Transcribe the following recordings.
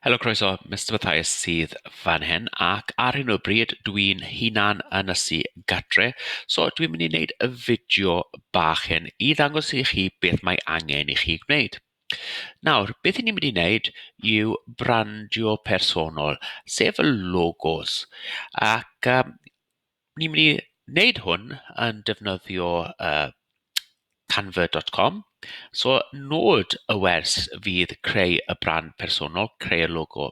Helo, croeso, Mister Mathias sydd fan hyn ac ar hyn o bryd dwi'n hunan yn ysu gatre so dwi'n mynd i wneud y fideo bach hyn i ddangos i chi beth mae angen i chi gwneud. Nawr, beth i ni'n mynd i wneud yw brandio personol, sef y logos ac um, Ni'n mynd i wneud hwn yn defnyddio yy Canva dot com, so nod y wers fydd creu y brand personol, creu'r logo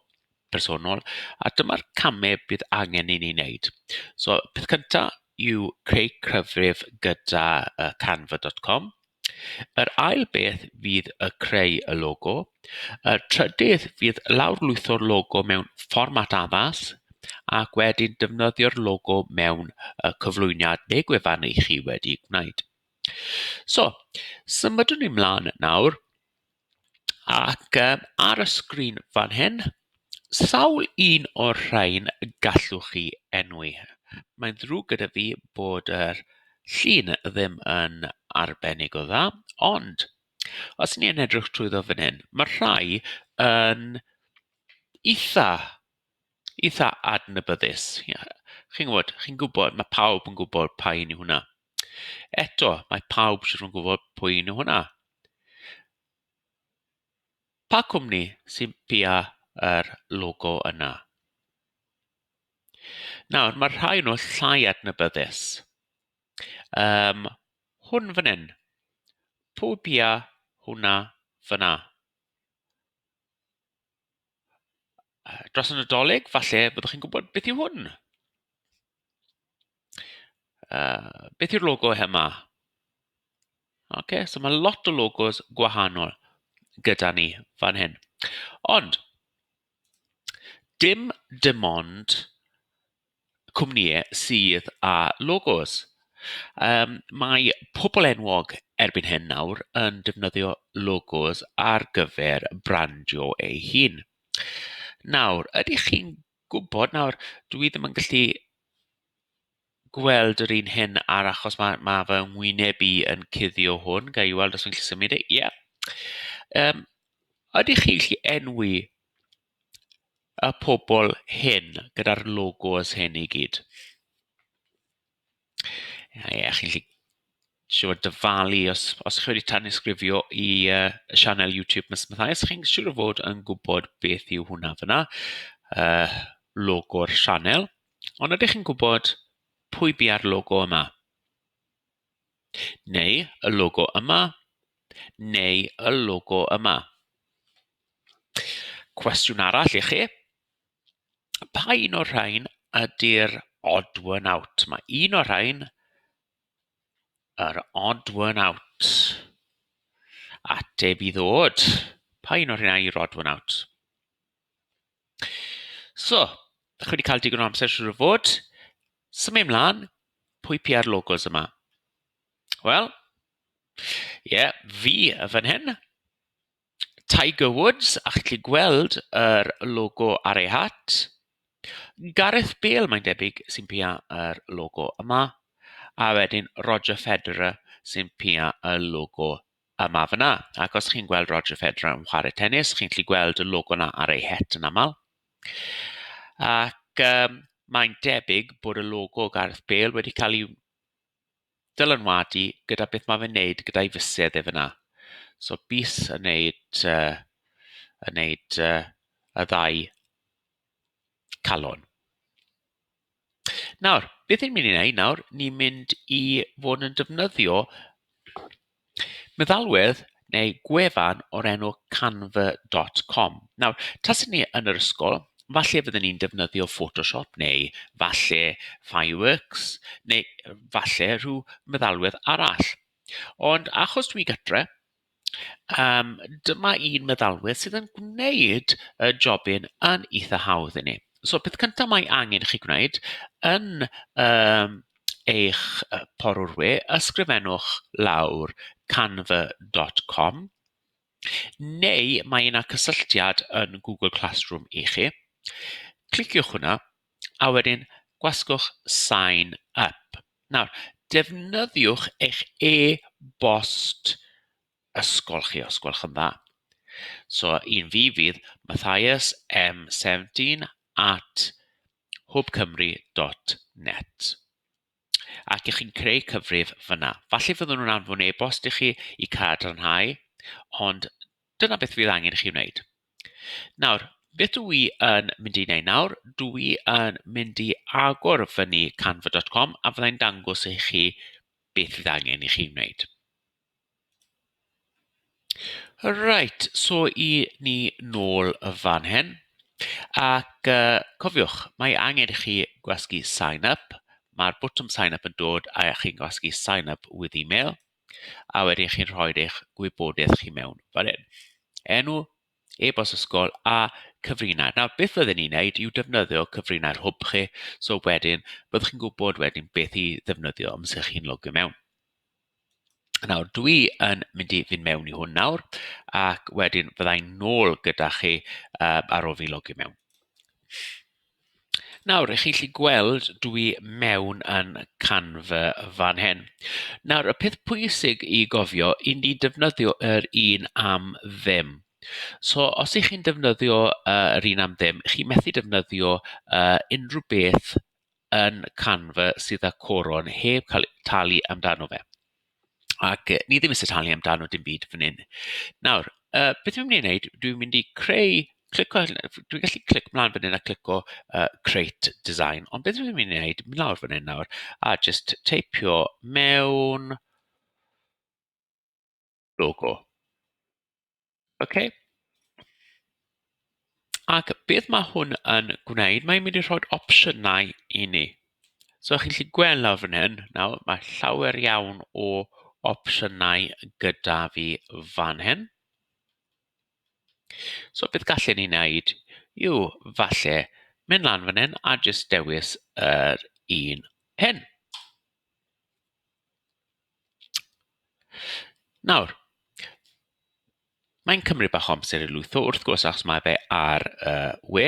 personol, a dyma'r camau bydd angen i ni wneud. So peth cynta yw creu cyfrif gyda yy Canva dot com. Yr ail beth fydd y creu y logo. Y trydydd fydd lawrlwytho'r logo mewn fformat addas ac wedyn defnyddio'r logo mewn y cyflwyniad neu gwefan i chi wedi gwneud. So, symudwn ni mlaen nawr Ac yy ar y sgrin fan hyn, sawl un o'r rhain y gallwch chi enwi? Mae'n ddrwg gyda fi bod yr llun ddim yn arbennig o dda, ond os ni yn edrych trwyddo fan hyn, ma' rhai yn eitha eitha adnabyddus, ie chi'n gwbod chi'n gwbod ma' pawb yn gwbod pa un yw hwnna. Eto, mae pawb jyst yn gwybod pwy yw hwnna. Pa cwmni sy'n pia yr logo yna? Nawr, mae'r rhai nhw llai adnabyddus. Um, hwn fan hyn. Pwy bia hwnna fyna? dros y Nadolig, falle byddwch chi'n gwybod beth yw hwn. Uh, beth yw'r logo yma? OK, so mae lot o logos gwahanol gyda ni fan hyn. Ond, dim dim ond cwmnïau sydd â logos. Yym, mae pobl enwog erbyn hyn nawr yn defnyddio logos ar gyfer brandio eu hun. Nawr, ydych chi'n gwybod, nawr dwi ddim yn gallu gweld yr un hyn ar achos ma' ma' fy ngwyneb i yn cuddio hwn, ga i weld os fi'n gallu symud e, ie. Yym, ydych chi'n gallu enwi y pobl hyn gyda'r logos hyn i gyd. A ie, chi'n gallu siŵr dyfalu os os chi wedi tanysgrifio i uh, y sianel YouTube Miss Mathias, chi'n siŵr o fod yn gwybod beth yw hwnna fyna, uh, logo'r sianel. Ond ydych chi'n gwybod pwy bia'r logo yma? Neu y logo yma, neu y logo yma. Cwestiwn arall i chi, pa un o'r rhain ydy'r odd one out? Mae un o'r rhain yr odd one out. Ateb i ddod, pa un o'r rhain yw'r odd one out? So, dach chi wedi cael digon o amser siŵr o fod. Symud mlaen, pwy PR logos yma? Wel, ie, yeah, fi fan hyn. Tiger Woods, a chi'n gallu gweld yr er logo ar ei hat. Gareth Bale, mae'n debyg, sy'n PR yr er logo yma. A wedyn Roger Federer sy'n PR y logo A ma fe 'na, ac os chi'n gweld Roger Federer yn chwarae tenis, chi'n gallu gweld y logo 'na ar ei het yn aml. Ac um, mae'n debyg bod y logo Gareth Bale wedi cael ei dylanwadu gyda beth mae fe'n neud gyda'i fysedd e fyna. So bus yn neud, uh, yn neud uh, y ddau calon. Nawr, beth ni'n mynd i wneud nawr, ni'n mynd i fod yn defnyddio meddalwedd neu gwefan o'r enw canva.com. Nawr, tas ni yn yr ysgol, falle fydden ni'n defnyddio Photoshop neu falle Fireworks neu falle rhyw meddalwedd arall. Ond achos dwi gytre, Yym, dyma un meddalwedd sydd yn gwneud y jobyn yn eitha hawdd inni. So peth cynta mae angen i chi gwneud yn yym eich yy porwr we, ysgrifennwch lawr canva dot com neu mae 'na cysylltiad yn Google Classroom i chi. Cliciwch hwnna. a wedyn gwasgwch Sign Up. Nawr, defnyddiwch eich e-bost ysgol chi os gwelwch yn dda. So, un fi fydd Mathias M17 at hwbcymru.net. ac ych chi'n creu cyfrif fan'na. Falle fyddwn nhw'n anfon e-bost i chi i cadarnhau, ond dyna beth fydd angen i chi wneud. Nawr, beth dw i yn mynd i wneud nawr? Dw i yn mynd i agor fyny canva.com a fyddai'n dangos i chi beth fydd angen i chi wneud. Reit, so i ni nôl fan hyn. Ac yy cofiwch, mae angen i chi gwasgu sign up. Mae'r botwm sign up yn dod a chi'n gwasgu sign up with email, a wedyn chi'n rhoi eich gwybodaeth chi mewn fan hyn. Enw, e-bost ysgol a cyfrinair. Nawr beth fydden ni'n wneud yw defnyddio cyfrinair hwb chi, so wedyn byddwch chi'n gwybod wedyn beth i ddefnyddio amser chi'n logio mewn. Nawr, dwi yn mynd i fynd mewn i hwn nawr, ac wedyn fydda i'n nôl gyda chi uh, ar ôl fi logio mewn. Nawr, ych chi'n gallu gweld dwi mewn yn Canva fan hyn. Nawr, y peth pwysig i gofio, i ni defnyddio yr un am ddim. So, os ych chi'n defnyddio uh, yr un am ddim, chi methu defnyddio uh, unrhyw beth yn Canva sydd â coron heb cael talu amdano fe. Ac yy, ni ddim eisiau talu amdano dim byd fan hyn. Nawr, uh, beth dwi'n mynd i wneud, dwi'n mynd i creu, clico, dwi'n gallu clic mlaen fan hyn a clico uh, Create Design, ond beth dwi'n mynd i wneud, mynd lawr fan hyn nawr, a just teipio mewn, logo. OK. Ac beth mae hwn yn gwneud? Mae'n mynd i rhoi opsiynau i ni. So chi'n gallu gweld lawr fan hyn, nawr mae llawer iawn o opsiynau gyda fi fan hyn. So beth gallen ni wneud yw falle mynd lan fan hyn a jyst dewis yr un hyn. Nawr, mae'n cymryd bach o amser i lwytho wrth gwrs achos mae fe ar y we,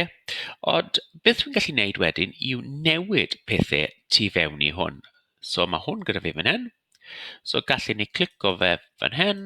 ond beth dwi'n gallu wneud wedyn yw newid pethe tu fewn i hwn. So mae hwn gyda fi fan hyn, so gallwn ni clico fe fan hyn,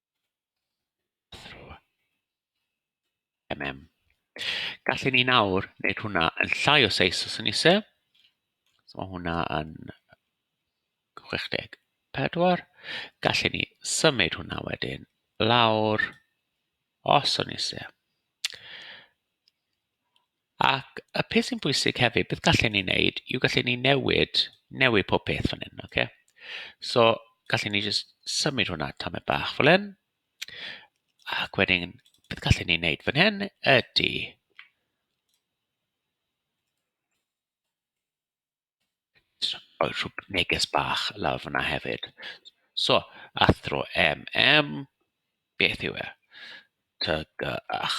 through mm. Gallwn ni nawr wneud hwnna yn llai o seis os yn eisiau. So mae hwnna yn 64. Gallwn ni symud hwnna wedyn lawr os yn eisiau. Ac y peth sy'n bwysig hefyd, beth gallen ni wneud yw gallen ni newid, newid pob peth fan hyn, okay? So, gallen ni jyst symud hwnna tamed bach fel hyn. Ac wedyn, beth gallen ni wneud fan hyn ydy... rhyw neges bach lawr fan'na hefyd. So, athro MM, beth yw e? TGAU.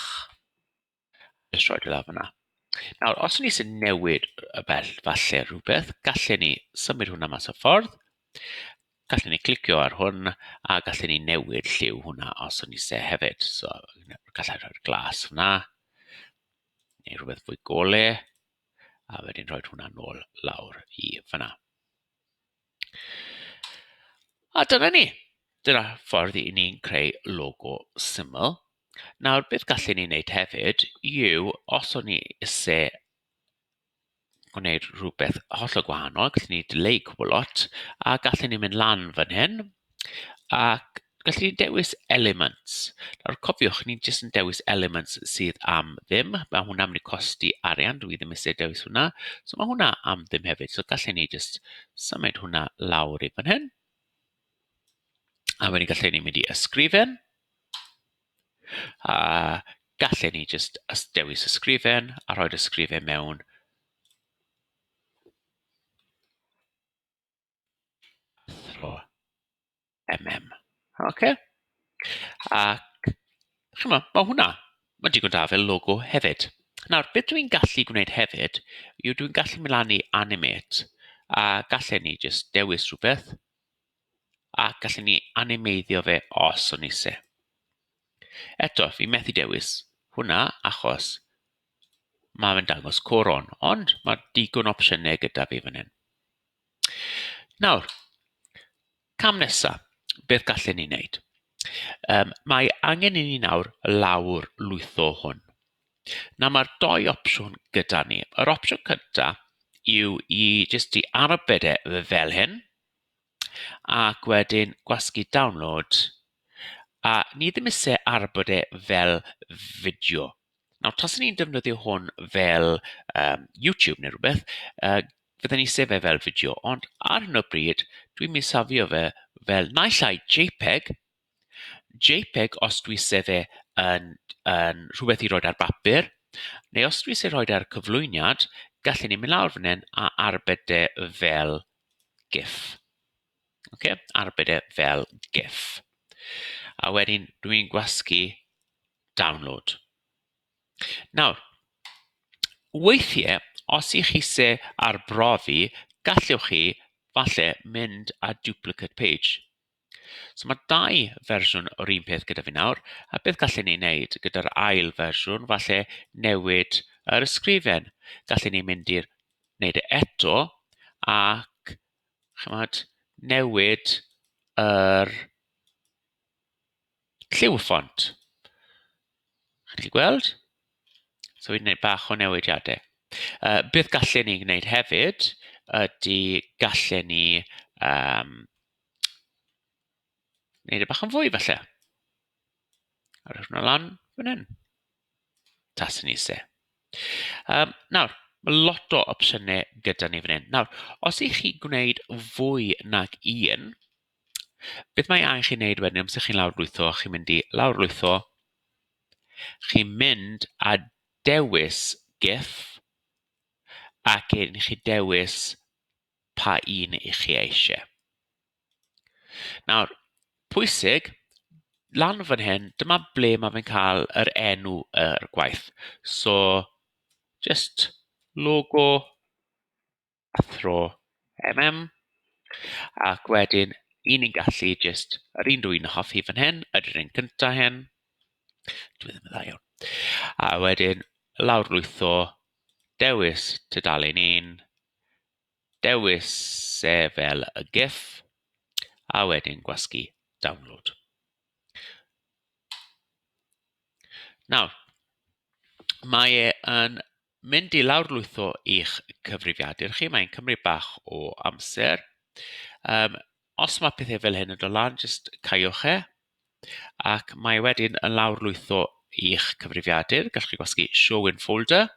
Jyst rhoi fe lawr fan'na. Nawr, os o'n i isie newid y bell falle rhywbeth, gallen ni symud hwnna mas o ffordd. Gallen ni clicio ar hwn, a gallen ni newid lliw hwnna os o'n ni isie hefyd. So, gallai rhoi'r glas fan'na, neu rhywbeth fwy gore. a wedyn rhoi hwnna nôl lawr i fan'na. A dyna ni. Dyna ffordd i ni'n creu logo syml. Nawr, beth gallen ni wneud hefyd yw, os o'n ni isie gwneud rhywbeth hollol gwahanol, gallen ni dileu cwbl lot, a gallen ni mynd lan fan hyn, Ac gallu ni dewis elements. Nawr cofiwch, ni jyst yn dewis elements sydd am ddim. Mae hwnna'n mynd i costi arian, dwi ddim eisiau dewis hwnna. So mae hwnna am ddim hefyd. So gallu ni jyst symud hwnna lawr i fan hyn. A wedyn gallu ni mynd i ysgrifen. A gallu ni jyst dewis ysgrifen a rhoi'r ysgrifen mewn athro MM. Ocê? Ac chimod, ma' hwnna, ma'n digon da fel logo hefyd. Nawr, beth dwi'n gallu gwneud hefyd yw dwi'n gallu mynd lan i animate a gallen ni jyst dewis rhywbeth a gallen ni animeiddio fe os o'n isie. Eto, fi methu dewis hwnna achos mae fe'n dangos coron, ond mae digon opsiynau gyda fi fan hyn. Nawr, cam nesa, beth gallen ni wneud? Yym, mae angen i ni nawr lawr lwytho hwn. Nawr, mae'r dou opsiwn gyda ni. Yr opsiwn cynta yw i jyst i arbed e fel hyn, ac wedyn gwasgu download, a ni ddim isie arbed e fel fideo. Nawr, tasen ni'n defnyddio hwn fel um, YouTube neu rhywbeth, uh, fydden ni sef e fel fideo, ond ar hyn o bryd, dwi'n mynd safio fe fel naill ai JPEG, JPEG os dwi sef e yn, yn rhywbeth i roed ar bapur, neu os dwi sef roed ar cyflwyniad, gallen ni mynd lawr fan hyn a arbed e fel GIF. Okay? Arbed e fel GIF. A wedyn dwi'n gwasgu Download. Nawr, weithiau, os i chi se arbrofi, gallwch chi falle mynd a duplicate page. So mae dau fersiwn o'r un peth gyda fi nawr, a beth gallen ni wneud gyda'r ail fersiwn, falle newid yr ysgrifen. Gallen ni mynd i'r wneud e eto ac chymod, newid yr lliw y ffont. Chi'n gallu gweld? So fi'n gwneud bach o newidiadau. Uh, beth gallen ni gwneud hefyd ydy gallen ni um, wneud y e bach yn fwy falle. A rhywun hwnna lan fan hyn. Tas yn eisiau. Um, nawr, mae lot o opsiynau gyda ni fan hyn. Nawr, os ych chi gwneud fwy nag un, Beth mae angen chi wneud wedyn, amser chi'n lawrlwytho, chi'n mynd i lawrlwytho, chi'n mynd a dewis GIF, ac wedyn chi dewis pa un i chi eisiau. Nawr, pwysig, lan fan hyn, dyma ble mae fe'n cael yr enw yr gwaith. So, jyst logo a thro mm ac wedyn i ni'n gallu jyst yr un dwi yn hoffi fan hyn ydy'r un cynta hyn dwi ddim yn dda iawn a wedyn lawrlwytho dewis tudalen un dewis e fel y gif a wedyn gwasgu download nawr mae e yn mynd i lawrlwytho eich cyfrifiadur chi, mae'n cymryd bach o amser. Um, os mae pethau fel hyn yn dod lan, jyst caiwch e, ac mae e wedyn yn lawrlwytho eich cyfrifiadur. Gallwch chi gwasgu Show in Folder,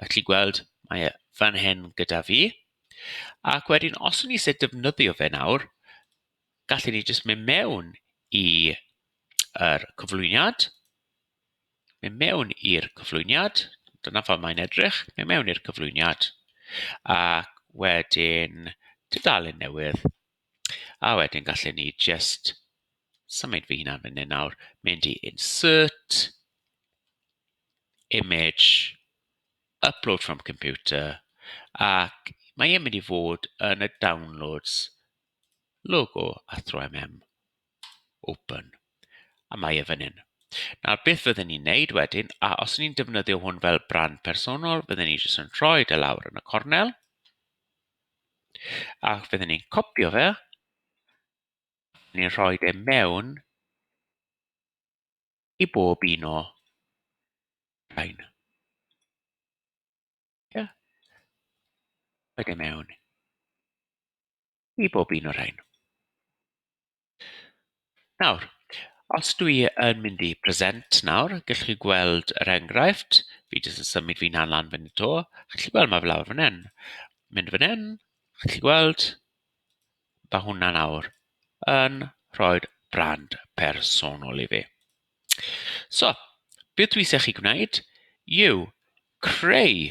a chi gweld mae e fan hyn gyda fi. Ac wedyn, os ni eisiau defnyddio fe nawr, gallwn ni jyst mynd mewn i yr er cyflwyniad, mynd mewn i'r cyflwyniad, dyna fel mae'n edrych, mynd mewn i'r cyflwyniad ac wedyn tudalen newydd a wedyn gallen ni jyst symud fy hunan fan hyn nawr, mynd i insert, image, upload from computer ac mae e'n mynd i fod yn y downloads logo Athro MM. open a mae e fan hyn. Nawr beth fydden ni'n neud wedyn, a os ni'n defnyddio hwn fel brand personol, fydden ni jyst yn rhoi e lawr yn y cornel, a fydden ni'n copio fe, ni'n rhoi e mewn i bob un o rhain. Yeah. Rhoi e mewn i bob un o'r rhain. Nawr, os dwi yn mynd i present nawr, gallwch chi gweld yr enghraifft. Fi jyst yn symud fi'n han lan fan 'to. Chi'n gallu gweld ma' fe lawr fan hyn. Mynd fan hyn, chi'n gallu gweld, ma' hwnna nawr yn rhoi brand personol i fi. So, beth dwi eisiau chi gwneud yw creu